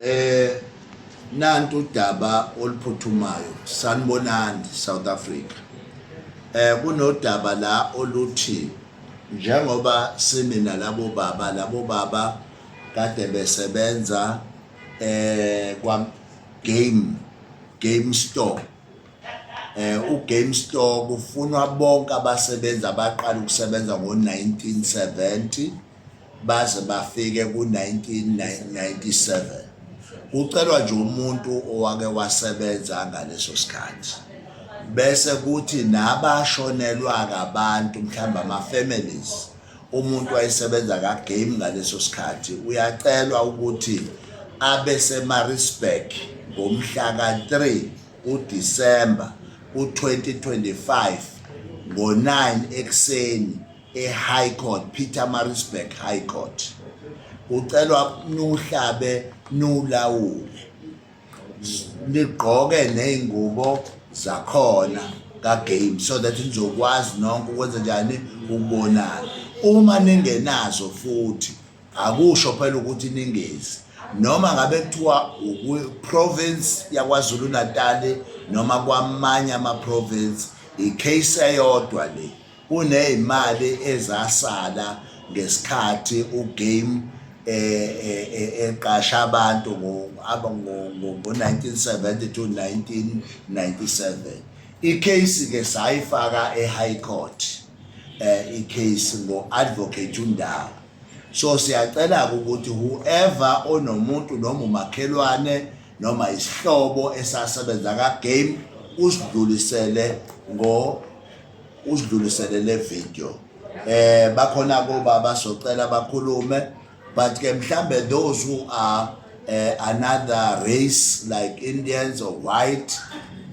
Eh nantu udaba oluphuthumayo sanibonani South Africa. Eh kunodaba la oluthi njengoba simina labo baba labo baba kade besebenza eh kwa game game store eh uGame Store kufunwa bonke abasebenzi abaqala ukusebenza ngo-1970 baze bafike ku-1997 kucelwa nje umuntu owake wasebenza ngaleso sikhathi bese kuthi nabashonelwa kabantu mhlawumbe ama-families umuntu wayesebenza kagame ngaleso sikhathi uyacelwa ukuthi abe semarisburg ngomhla ka-3 udisemba u-2025 ngo-9 ekuseni e-high court peter marisburg high court kucelwa nuhlabe nulawule nigqoke ney'ngubo zakhona kagame so that nizokwazi nonke ukwenza njani ukubonana uma ningenazo futhi akusho phela ukuthi ningezi noma ngabe kuthiwa province yaKwaZulu Natal noma kwamanye ama province i case eyodwa le kunezimali ezasala ngesikhathi uGame e, e, e, eqasha abantu ngo-1970 to 1997 icase ke sayifaka e-high court eh icase ngo-advocate undawo so siyacela-ke ukuthi whoever onomuntu noma umakhelwane noma isihlobo esasebenza ka-game usidlulisele ngo usidlulisele le video eh bakhona kuba basocela bakhulume but ke mhlambe those who are uh, another race like Indians or white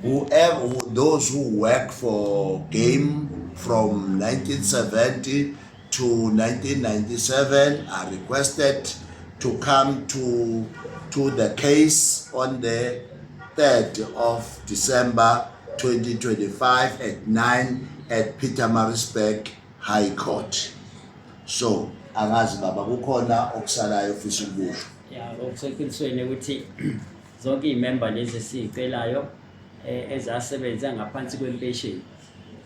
whoever those who work for game from 1970 to 1997 are requested to come to, to the case on the 3rd of December 2025 at 9 at Peter Marisburg High Court. So, angazi baba kukhona okusalayo ofisa ukukusho. Yeah, okuseqinisweni ukuthi zonke iy'memba lezi esiyicelayo eh, ezasebenza ngaphansi kwempesheni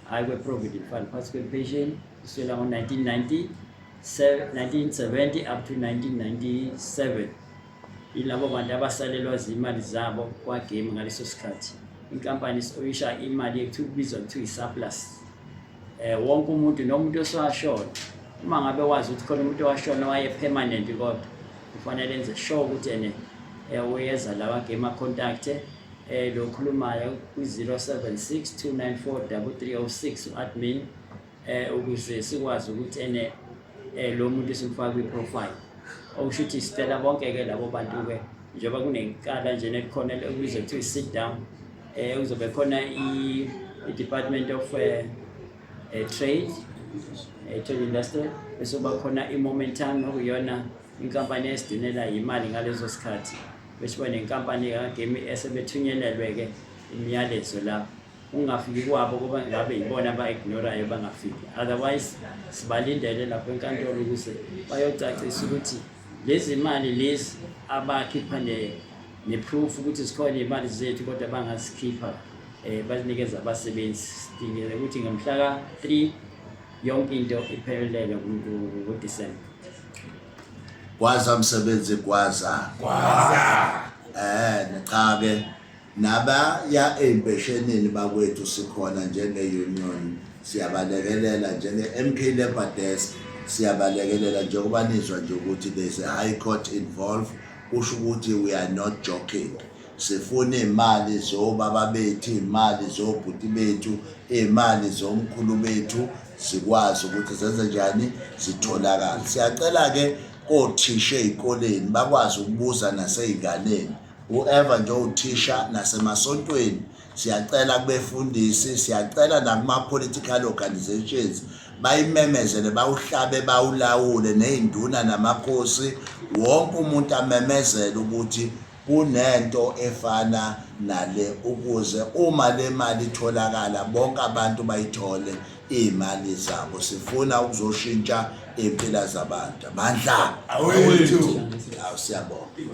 High Way Provident Fund Particle Pension kusukela ngo-1990 1970 up to 1997 ilabo bantu abasalelwa zimali zabo kwagame ngaleso sikhathi inkampani oyisha imali ekuthiwa kubizwa kuthiwa i-surplus eh wonke umuntu nomuntu osashona uma ngabe wazi ukuthi khona umuntu owashona waye permanent kodwa kufanele enze sure ukuthi ene eh, uyeza lawa game a contact eh lo khulumayo kwi-0762943306 u-admin eh ukuze sikwazi ukuthi ene eh lo muntu simfaka kwi-profile okusho ukuthi sicela bonke-ke labo bantu-ke njengoba kunekala nje nelikhona elibizwa kuthiwa i-sit down eh kuzobe khona i-department of eh, eh, trade eh, trade industry bese kuba khona i-momentum okuyona Inkampani esidinela yimali ngalezo sikhathi beshiba nenkampani kagemi esebethunyelelwe-ke imiyalezo lapho ungafiki kwabo kuba ngabe yibona aba-ignorayo bangafiki otherwise sibalindele lapho enkantolo ukuze bayocacisa ukuthi lezi mali lezi abakhipha ne-proof ukuthi zikhona iy'mali zethu kodwa bangazikhipha um bazinikeza abasebenzi sidingele ukuthi ngomhlaka-three yonke into iphelele kuDisemba. Gwaza msebenzi gwaza. Gwaza. Eh nichake naba ya empeshenini bakwethu sikhona njenge union siyabalekelela njenge MK Labor Desk siyabalekelela njengoba nizwa nje ukuthi there's a high court involved kusho ukuthi we are not joking sifuna iy'mali zobaba bethu iy'mali zobhuti bethu iy'mali zomkhulu bethu zikwazi ukuthi zenze njani zitholakale siyacela-ke kothisha ey'koleni bakwazi ukubuza nasey'nganeni whoever nje owuthisha nasemasontweni siyacela kubefundisi siyacela nakuma-political organizations bayimemezele bawuhlabe bawulawule ney'nduna namakhosi wonke umuntu amemezele ukuthi Kunento efana nale ukuze uma le mali itholakala bonke abantu bayithole iy'mali zabo sifuna ukuzoshintsha iy'mpila zabantu amandla awethu awu siyabonga